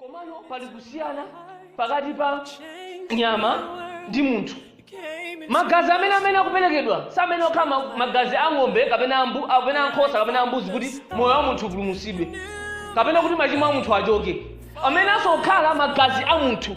Komano pali kusiyana pakati pa nyama ndi munthu. Magazi amene amene akuperekedwa siamene okhala magazi a ng'ombe kapena a mbu- kapena a nkhosa kapena a mbuzi kuti moyo wa munthu upulumutsidwe kapena kuti machimo a munthu achoke, amene asokhala magazi a munthu.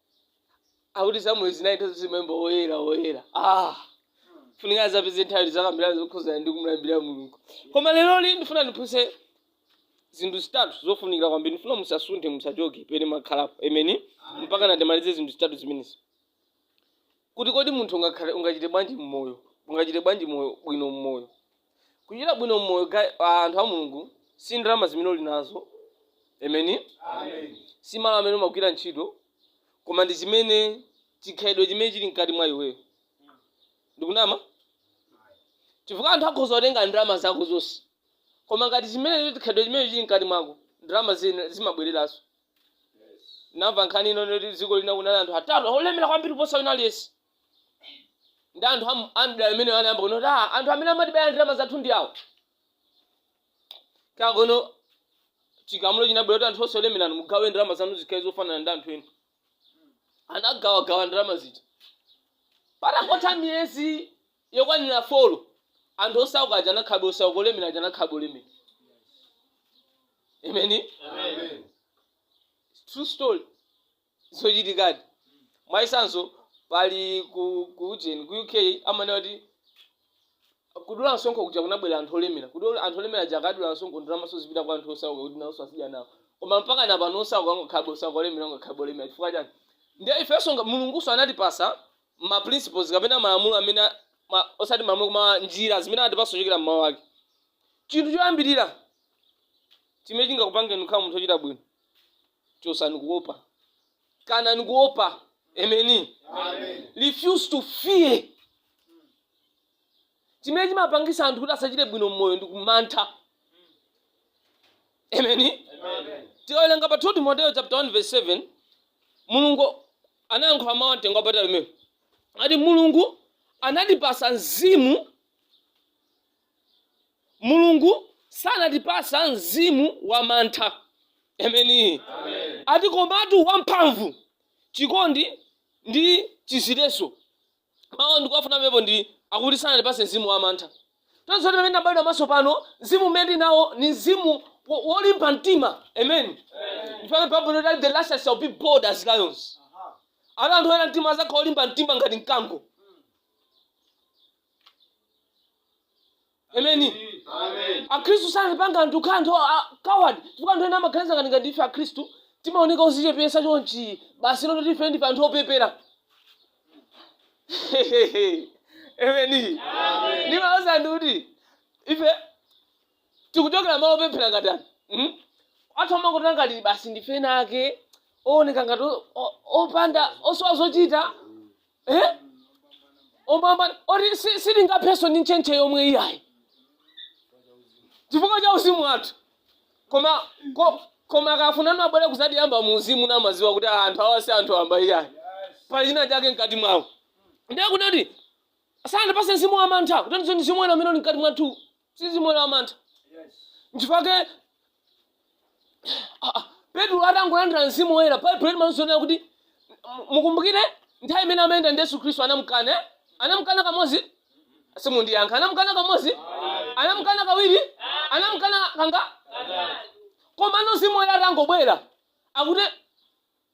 akuti samueli zinali nthawi zonse maimba woyera woyera ah funika azapeze nthawi yokambirana zokhuzana ndi kumlambira mulungu koma leroli ndifuna ndiphunzitse zinthu zitatu zofunikira kwambiri ndifuna musasunthe musachoke pene mwakhalapo ameni mpaka ndimalize zinthu zitatu zimenezi kuti kodi munthu ungakhale ungachite bwanji mmoyo ungachite bwanji moyo bwino mmoyo Kuchita bwino mmoyo ga a anthu a Mulungu si ndalama zimene uli nazo. Ameni. Si malo amene umagwira ntchito, koma ndi chimene chikhalidwe chimene chili mkati mwa iweyo. Ndikunama? Chifukwa anthu akhoza kutenga ndalama zako zonse, koma ngati chimene chikhalidwe chimene chili mkati mwako, ndalama zina zimabwereranso. Namva nkhani ino yoti dziko lina kunali anthu atatu olemera kwambiri kuposa wina aliyense. ndi anthu am- amdala amene anayamba kunena kuti "Ah, anthu amene amatibera ndalama zathu ndi awo komano chigamulo chinabwera kuti anthu onse olemerani mugawe ndalama zanu zikhale zofanana ndi anthu ena anagawagawa ndalama zija patangotha miyezi yokwanira folo anthu osauka aja anakhalabe osauka olemera aja anakhalabe olemera imeni Amen. true story zochitikadi. Mwachitsanzo, pali ku ku ujeni ku UK amanena kuti kudula msonkho kuja kunabwera anthu olemera kuti ol- anthu olemera aja akadula msonkho ndalamazo zipita kwa anthu osauka kuti nawonso azidya nawo koma mpaka na pano osauka angokhalabe osauka olemera angokhalabe olemera chifukwa chani ndiye ifenso nga- mulungunso anatipasa ma principles kapena malamulo amene a- ma, osati malamulo koma njira zimene anatipasa kuchokera mmawu ake chinthu choyambirira chimene chingakupangeni kukhala munthu ochita bwino chotsani kuopa kanani kuopa ameni refuse to fear chimene chimapangisa anthu kuti asachite bwino mmoyo ndi kumantha ameni tikawerenga pa 2 timoteyo chapter 1 verse 7 mulungu anayankhula mawu amtengo wapatali mmenemo ati mulungu anatipasa mzimu Mulungu sanatipasa mzimu wa mantha. Ameni. Ati komatu wamphamvu, chikondi ndi chidziletso. Mawu ndikuwafuna pamenepo ndi akuti sanatipase mzimu wa mantha. Tonse amene tinabadwa mwatsopano, mzimu umene tili nawo ni mzimu wo- wolimba mtima. Amen. Ndipake Baibulo likuti the righteous shall be bold as lions. Ana anthu oyera mtima azakhala olimba mtima ngati mkango. ameni Amen. akhristu sanapanga anthu kukhala anthu a coward chifukwa anthu ena amaganiza ngati ngati ife akhristu timaoneka ozichepesa chonchi basi noti ife ndife anthu opepera ameni ndimauza anthu kuti ife tikuchokera malo opempherera ngati anthu anthu amangotiona ngati basi ndife ena ake ooneka ngati o- o- opanda osowa zochita eh? opambana oti si- sitingaphenso ndi ntchentche yomwe iyayi chifukwa cha uzimu wathu koma ko, koma akafunano abwere kuzatiyamba mu uzimu namaziwa kuti "Ah, anthu awa si anthu amba iyayi pali china chake mkati mwawo ndiye kunati sanatipase mzimu wa mantha kuti ndi mzimu wina umene uli mkati mwathu si mzimu wamantha nchifukwa chake ah, ah, petro atangolandira mzimu woyera baibulo limationetsa kuti mu- mukumbukire nthawi imene amayenda ndi yesu khristu anamkana eh? anamkana kamodzi simundiyankha anamkana kamodzi anamkana kawiri anamkana kangati koma mzimu woyera atangobwera akuti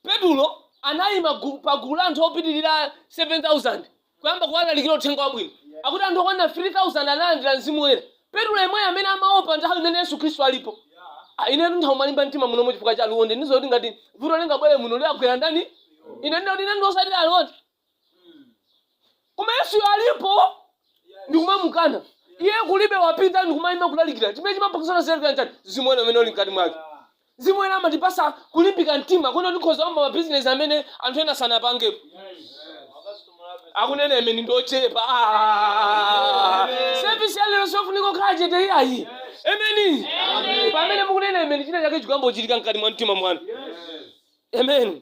Petulo anaima gu, pa gulu la anthu opitirira 7,000 kuyamba kuwalalikira uthenga wabwino. Akuti anthu okwanira 3,000 analandira mzimu woyera. Petulo yemweyo amene amaopa nthawi imene Yesu Khristu alipo. Ah, inetu ntha kumalimba mtima munomo chifukwa cha alonde. Ndiziwa kuti ngati vuto lingabwere muno liyagwera ndani? Ine ndinoti ine ndiosati alonde. koma yesuyo alipo ndikumamukana iye kulibe wapita ndikumayima kulalikira chimene chimampangisa azilalikira chani mzimu woyera amene uli mkati mwake mzimu woyera amatipasa kulimbika mtima kunoti tikhoza oyamba mabizinesi amene anthu ena sanapangepo akunena emeni ndi ochepa sevisi yalero sofunika kukhala chete iyayi emeni pamene mukunena emeni china chake chikuyamba kuchitika mkati mwa mtima mwanu amen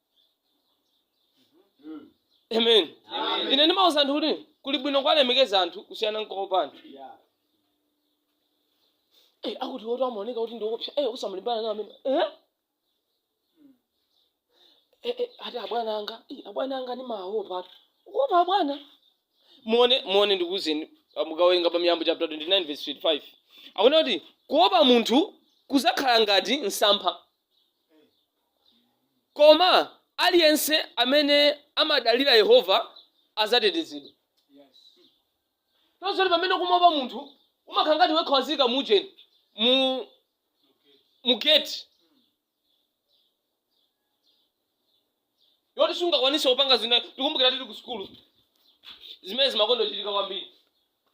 amen ine ndimauza anthu kuti kuli bwino kwalemekeza anthu kusiyana nkuopa anthu Eh, akuti awo amaoneka kuti ndiwopsa eh, usamalimbana nawo amene eh? Eh, eh, ati abwana anga eh, abwana anga nimawaopa ati ukuopa abwana muone muone ndikuuzeni mukawerenga pa miyambo chapter 29 verse 25 akunena kuti kuopa munthu kuzakhala ngati msampha Koma aliyense amene amadalira Yehova adzatetezedwa. Tinenso kuti pamene kumaopa munthu, umakhala ngati wekha waziika mujeni mu mu gate. yoti sungakwanise kupanga zina tikumbukira tili ku sukulu zimene zimakonda kuchitika kwambiri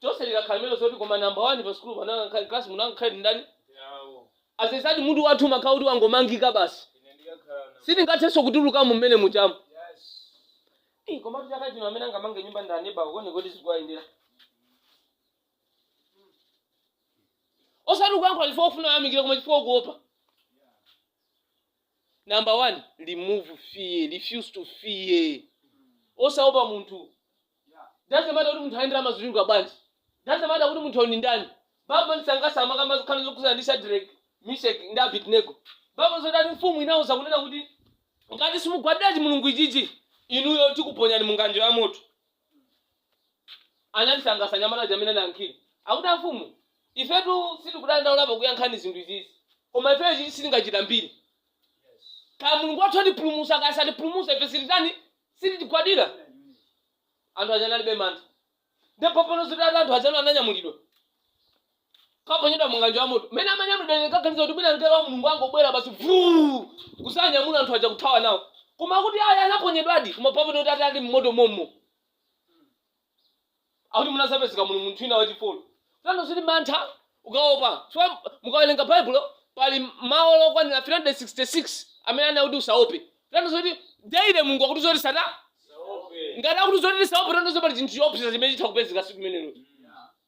chonse likakhala lemelo loti koma namba wani pa sukulu panja pa klasi mungakhale ndani azezati mutu wathu umakhala kuti wangomangika basi sitingathenso kutulukamo mmene mujamo Eh, komatu chaka chino amene angamange nyumba ndi aneba kone kodi zikuwayendera osati kuyankhula chifukwa kufuna ayamikire koma chifukwa kuopa Number one remove fear refuse to fear osaopa munthu doesn't matter kuti munthu ayendera mazuchuluka bwanji doesn't matter kuti munthu ndi ndani Bible imandisangalatsa ikamakamba zokhudzana ndi Shadrach Meshach ndi Abednego Bible ikuti mfumu inauza kunena kuti ngati simugwadira chimulungu ichichi inuyo tikuponyani mu ng'anjo ya moto amandisangalatsa anyamata aja mmene anayankhira akuti amfumu ifetu sitikudandaula pakuyankhani zinthu izizi koma ifeyo ichichi sitingachitambire kaya mulungu wathu atipulumusa kaya satipulumusa ife sititani sititigwadira anthu aja analibe mantha ndipo pamene zitati anthu aja ananyamulidwa kaponyedwa mu ng'anjo ya moto mmene amanyamulidwa ndikaganiza kuti mwina mngelo wa mulungu angobwera basi vuu kuzanyamula anthu aja kuthawa nawo koma kuti ayi anaponyedwadi koma pamene kuti atali mmoto mommo akuti munazapezeka muli munthu wina wachifolo tanthauzo lili mantha ukaopa so mukawerenga baibulo pali mawu okwanira 366 amene anenedwa kuti usaope tanthauzo loti daily mulungu akuti zoti usaope ngati akuti zoti tisaope tanthauzo pali chinthu choopseza chimene chitha kupezeka siku limenelo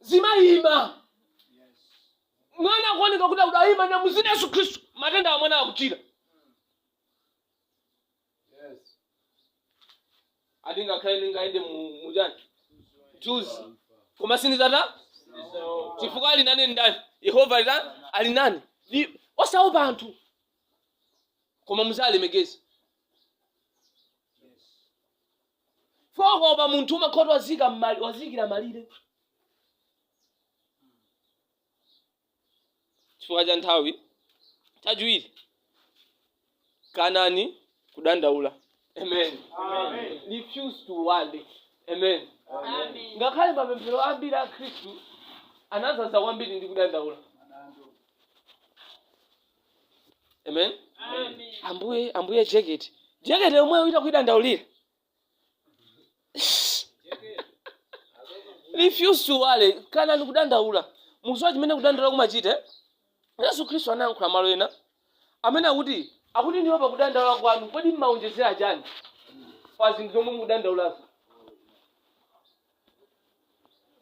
zimayima mwana akuoneka kuti akutani ayima mu zina la yesu khristu matenda a mwana akuchira ati ngakhale ndingayende mu- mu chani nthunzi koma sindizata chifukwa ali nane ndani yehova ali nane ali nane Ndi- osaopa anthu koma muzalemekeza fokopa munthu umakhala kuti wazika m'mali- waziikira malire chifukwa cha nthawi chachiwiri kanani kudandaula amen Amen. refuse to worry amen Amen. ngakhale mapemphero ambiri a khristu anazaza kwambiri ndi kudandaula amen ambuye ambuye jeketi jeketi yomwe uchita kuidandaulira refuse to worry kanani kudandaula mukuziwa chimene kudandaula kumachita eh? yesu khristu anayankhula malo ena amene akuti akuti inuyo pakudandaula kwanu kodi mmaonjezera chani pa zinthu zomwe mukudandaulazo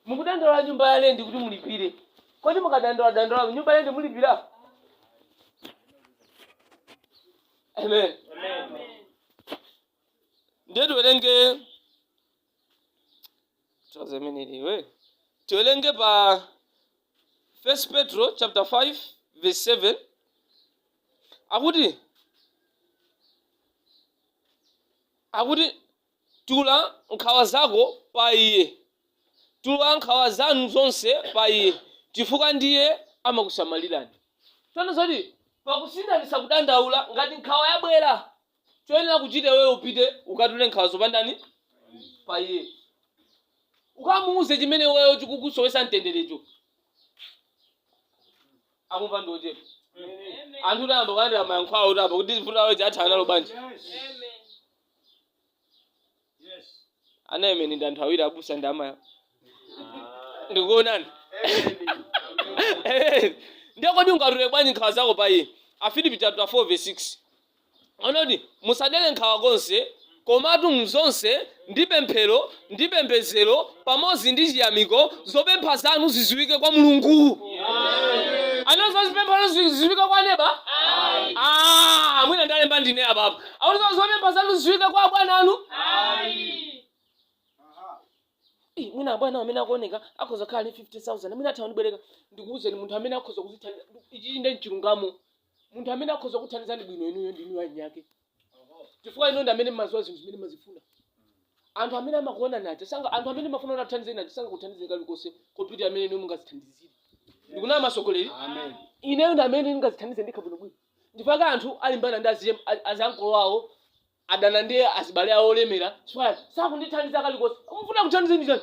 mukudandaula nyumba ya lendi kuti mulipire kodi mukadandaula dandaula nyumba ya lendi mulipira amen ndiye tiwerenge tiwaze imeneyi eh tiwerenge pa first petro chapter 5 verse 7 akuti akuti Tula nkhawa zako pa Iye. Tula nkhawa zanu zonse pa Iye, chifukwa ndiye amakusamalirani. Tsono zoti pakusinthanitsa kudandaula, ngati nkhawa yabwera, choyenera kuchita iweyo upite ukatule nkhawazo pa ndani? Pa Iye. Ukamuuze chimene iweyo chikukusowetsa mtenderecho. Akumva ndi ochepa. Anthu tayamba kulandira mayankho awo apa kuti vuto lawo athana nalo bwanji. anena amen ndi anthu awiri abusa ndi amayi ndikuonani ndiye kodi ungatule bwanji nkhawa zako pa iye afilipi chapter 4 verse 6 akuti musadere nkhawa konse komatu mzonse ndi pemphero ndi pembezero pamodzi ndi chiyamiko zopempha zanu ziziwike kwa mulungu akuti zopempha zanu ziziwike kwa neba Ah, mwina ndalemba ndine apapo akuti zopempha zanu ziziwike kwa abwana anu Ih, mwina abwana amene akuoneka akhoza kukhala ndi 50000 mwina atha kundibwereka ndikuwuzeni munthu amene akhoza kuzithandiza ichi nde chilungamo munthu amene akhoza kuthandizani bwino inuyo ndinuyo eniake chifukwa inu ndi amene mmaziwa zinthu zimene mmazifuna anthu amene amakuonani aja sanga anthu amene mafuna kuti akuthandizeni aja sangakuthandizeni kalikonse koposa mmene inu mungazithandizire ndikuna amasogoleri Amen. ineyo ndi amene ndingazithandize ndekha bwinobwino mpaka anthu alimbana ndi aziye- a- azankolo awo adana ndi azibale awo olemera chifukwa sakundithandiza kalikonse mufuna kuthandizeni chani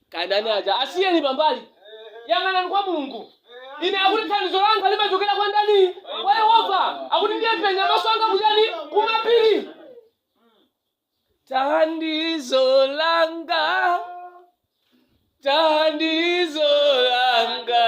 Kandani aja asiyeni pambali. Yang'anani kwa Mulungu. Ine akuti thandizo langa limachokera kwa ndani? Kwa Yehova. Akuti ndiye ndipenya maso anga kuchani? Kumapiri. Thandizo langa. Thandizo langa.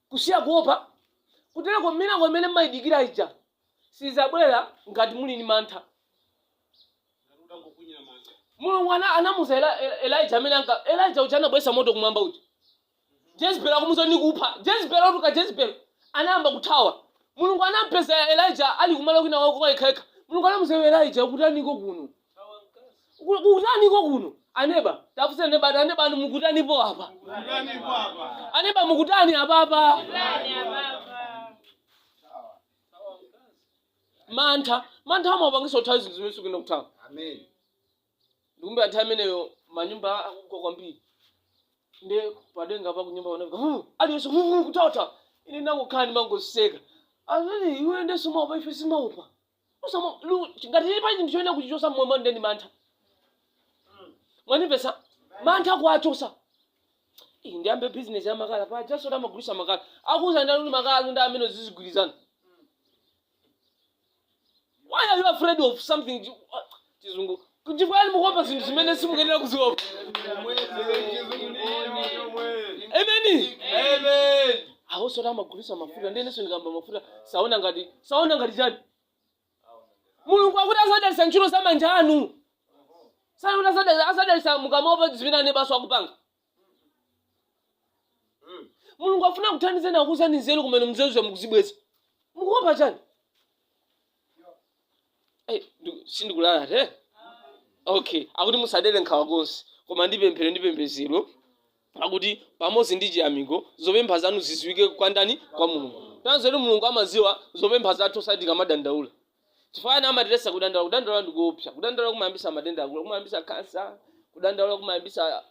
Kusiya kuopa kutereko milingo imene mmaidikira ija sidzabwera ngati muli ndi mantha. Ngati utangokunyira manja. Mulungu ana, anamuza Eli, Elijah amene Elijah uja anabwesa moto kumwamba uja. Jezebel akumuza nikupha. Jezebel otu ka Jezebel anayamba kuthawa. Mulungu anampeza Elijah ali kumalo kwinakwake kwa yekhayekha. Mulungu anamuza iwe Elijah ukutaniko kuno? Ku- kutaniko kuno aneba tafunsani neba ati aneba anu mukutanipo apa aneba mukutani apapa mantha mantha amapangisa kuthawa zinthu zimene sukuyenera kuthawa Amen. ndikukumbuka nthawi imeneyo manyumba akugwa kwambiri nde padenga pa kunyumba panaka "Huh, aliyense "Huh, huh, kutawathawa ine ndangokhala ndimangoseka anani iwe nde sumaopa ife sitimaopa Usama- lu- ngati tili pali chinthu choyenera kuchichosa mmoyo mwanu ndeno mantha mwandimvetsa mantha nkuwachosa Ih, ndiyambe bizinesi ya makala paja auje amagulisa makala akuuza ndani kuti makala anu ndi amene azigulitsa why are you afraid of something chizungu kuti nchifukwa chani mukuopa zinthu zimene simukuyenera kuziopa ameni awoso amagulisa mafuta ndiyeneso ndikamba mafuta saona ngati saona ngati chani mulungu akuti azadalisa ntchito za manja anu sakuti azadalisa mukamaopa zimene anebaso akupanga mulungu afuna kuthandizeni akupasani nzeru komano nzeruzo mukuzibweza mukuopa chani Eh, ndi- sindikunama eti okay akuti musadere nkhawa konse koma ndi pemphero ndi pembezero akuti pamodzi ndi chiyamiko zopempha zanu ziziwike kwa ndani kwa mulungu ndiye kuti mulungu amaziwa zopempha zathu osati tikamadandaula chifukwa chana amatiletsa kudandaula kudandaula ndi kuopsa kudandaula kumayambisa matenda akulu akulu kumayambisa kansa kudandaula kumayambisa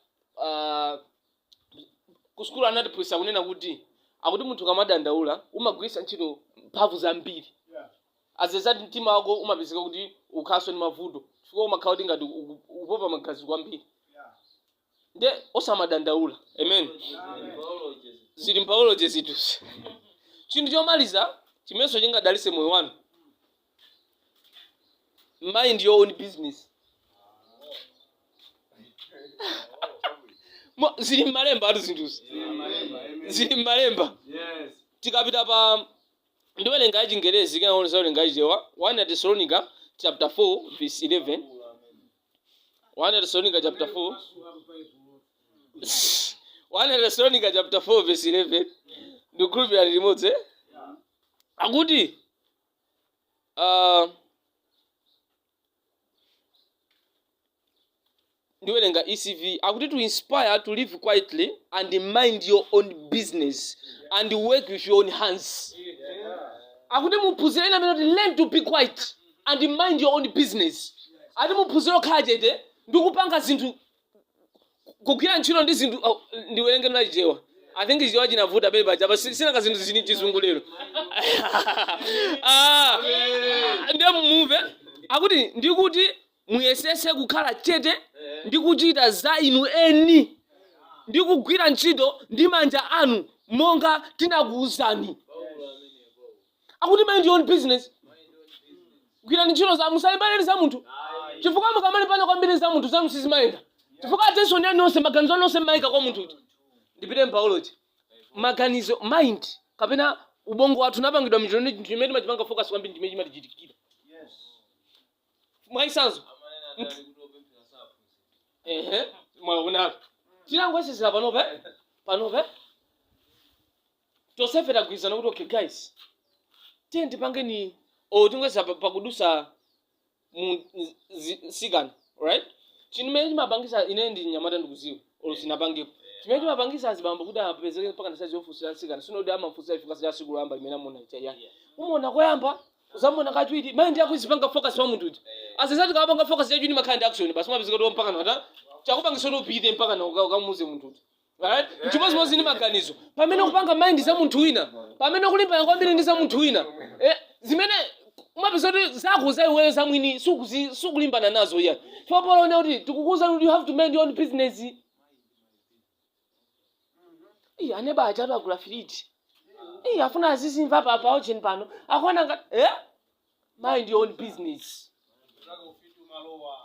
ah, kusukulu anatiphunzitsa kunena kuti akuti munthu ukamadandaula umagwiritsa ntchito mphamvu zambiri as a result mtima wako umapezeka kuti ukhalanso ndi mavuto chifukwa umakhala kuti ngati uku- ukupopa magazi kwambiri nde osamadandaula amen zili mu biology zinthuzi chinthu chomaliza chimenenso chingadalise moyo wanu mind your own business Mo- zili mmalembatu zinthuzi zili mmalemba tikapita pa ndiwelenga ya chingerezi kenako ndiwelenga ya chichewa 1 atesalonika chapter 4 verse 11 1 Tesalonika chapter 4 1 Tesalonika chapter 4 verse 11 ndikukhulupirira lili limodzi eh? akuti ah, ndiwerenga ESV akuti to inspire to live quietly and mind your own business and work with your own hands akuti muphunzire ina imanena kuti learn to be quiet and mind your own business ati muphunzire kukhala chete ndi kupanga zinthu kugwira ntchito ndi zinthu oh, ndiwerenge m'chichewa i think chichewa chinavuta pele paja pa sinaka zinthu zili mchizungu lero Ah, ndiye mumve akuti ndikuti muyesese kukhala chete ndi kuchita za inu eni ndi kugwira ntchito ndi manja anu monga tinakuwuzani akuti mind your own business gwirani ntchito za musalimbane ndi za munthu chifukwa mukamalimbana kwambiri ndi za munthu zanu sizimayenda chifukwa attention yanu yonse maganizo anu yonse mmayika kwa munthu uti ndipite mbiology maganizo mind kapena ubongo wathu inapangidwa choti chimene timachipanga focus kwambiri ndimene chimatichitikira mwachitsanzo ehe mwaonatu tangoyesera panopa eh? panopa eh? tonsefe tagwirizana kuti okay guys tiye tipangeni or tingoyesa pa- pakudusa mu zi- zi- mtsikana right chimene chimapangisa ine ndi mnyamata ndikuziwa or sindinapangepo chimene chimapangisa azibambo kuti apezeke mpaka ndi size yofunsira mtsikana sikuti amamufunsira chifukwa cha siku loyamba limene amuona lija ayi umuona koyamba uzamuona kachiwiri mind yako izipanga focus pa munthu uti chifukwa chinthu ukapanga focus yacho chimakhala ndi action basi umapezeka kuti mpaka nata chakupangisa kuti upite mpaka na uka- ukamuuze munthu uti Alright? Chimodzimodzi ndi maganizo. Pamene ukupanga mind za munthu wina, pamene ukulimbana kwambiri ndi za munthu wina, eh, zimene umapeza kuti zako za iweyo za mwini sukuzi- sukulimbana nazo iyayi. Chifukwa Paulo akunena kuti tikukuuzani kuti you have to mind your own business. Iya, aneba achatu agula firiji. Iya, afuna azizimva pa location pano. Akuona ngati eh? mind your own business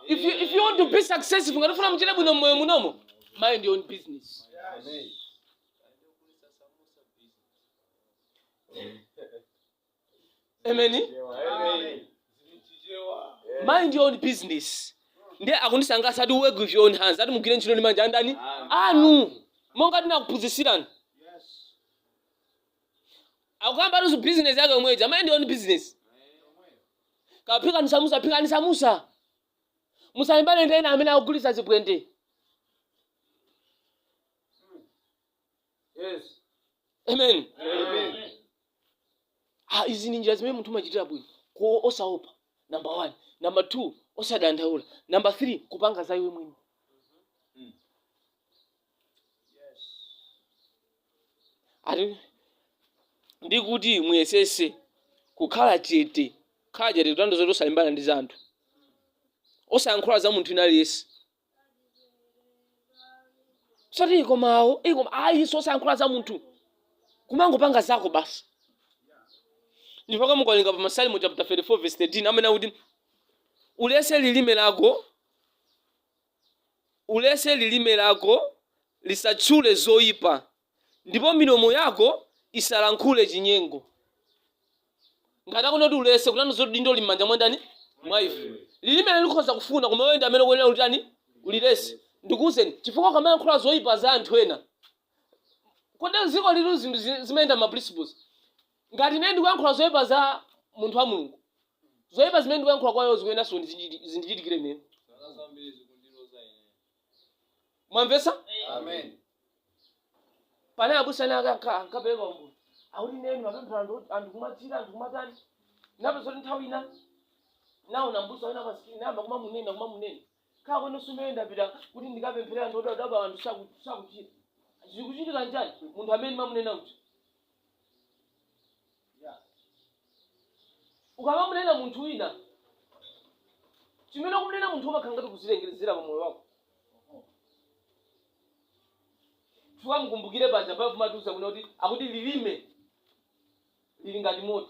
if you, if you want to be successful ngati mukufuna muchite bwino mmoyo munomo mind your own business amen mind your own business ndiye akundisangalatsa ati work with your own hands ati mugwire ntchito ndi manja andani anu monga tinakuphunzitsirani akukamba ati business yake yomwe ija mind your own business kaphikeni samusa phikani samusa musalimbane ndi ena amene akugulitsa zibwente Yes. amen Amen. ah, izi ni njira zimene munthu umachitira bwino ok osaopa number one number two osadandaula number three kupanga za iwe mwini ati ndi kuti muyesese kukhala chete khala chete kutanthauza zoti osalimbana ndi za anthu osayankhula za munthu ina aliyense zoti ikomawo ikoma ayi osayankhula za munthu kumangopanga zako basi nchifukwa mukawerenga pa masalimo chapter 34 verse 13 amene akuti ulese lilime lako Uletse lilime lako lisatchule zoipa, ndipo milomo yako isalankhule chinyengo. Ngati akunena kuti uletse, kutanthauza zoti udindo lili m'manja mwa ndani? Mwa ife. Lilimelo likhoza kufuna, koma iweyo ndi amene ukuyenera kulitani? Uliletse. Ndikuuzeni, chifukwa ukamalankhula zoipa za anthu ena, kodi mdziko lino zinthu zimayenda m'ma principles? ngati ine ndikuyankhula zoyipa za munthu wa mulungu zoyipa zimene ndikuyankhula kwa iwo zikuyeneranso kundichiti- zindichitikire ine zaka zambiri zikundiloza ine mwamvetsa amen pane abusa ena akupereka umboni akuti ine ndimapempherera anthu anthu kumachira anthu kumatani ndapeza zoti nthawi ina ndinaona mbusa wina pa screen ndayamba kumamunena kumamunena kukhala kwa ine tsopano ndapita kuti ndikapempherera anthu odwala odwala anthu saku- sakuchira zikuchitika nchani munthu amene umamunena uja ukamamunena munthu wina chimene ukumunena munthu umakhala ngati ukuzilengezera pa moyo wako chifukwa mukumbukire paja mawu amatiuza kuti akuti lilime lili ngati moto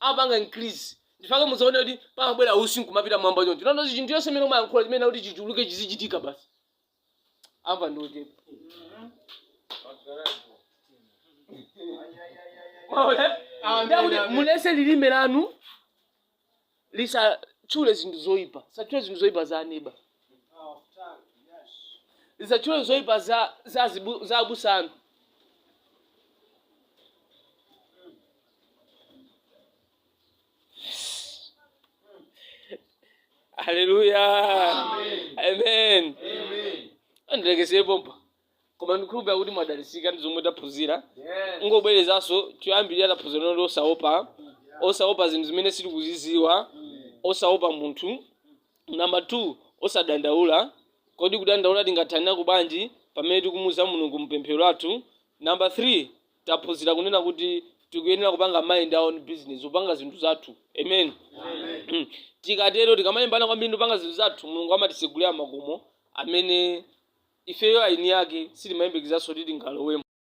amapanga increase nchifukwa chake muzaone kuti pamabwera usi nkumapita m'mwamba choncho kutanthauza zoti chinthu chonse chimene umayankhula chimayenera kuti chichuluke chizichitika basi amva ndi ochepa Mwaona? Ndiye kuti mulese lilime lanu lisatchule zinthu zoyipa lisatchule zinthu zoyipa za aneba lisatchule zoyipa za za zibu- za abusa anu haleluya amen ndilekezere pompa koma ndikukhulupirira kuti mwadalisika ndi zomwe taphunzira kungobwerezanso choyambirira taphunzira kunena kuti osaopa osaopa zinthu zimene sitikuziziwa osaopa munthu namba 2 osadandaula kodi kudandaula tingathanira kubwanji pamene tikumuza mulungu mpemphero lathu namba 3 taphunzira kunena kuti tikuyenera kupanga mind our own business kupanga zinthu zathu amen Mm. tikatero tikamalimbana kwambiri ndi kupanga zinthu zathu mulungu amatisegulira makomo amene ifeyo eni ake sitimayembekezanso kuti tingalowemo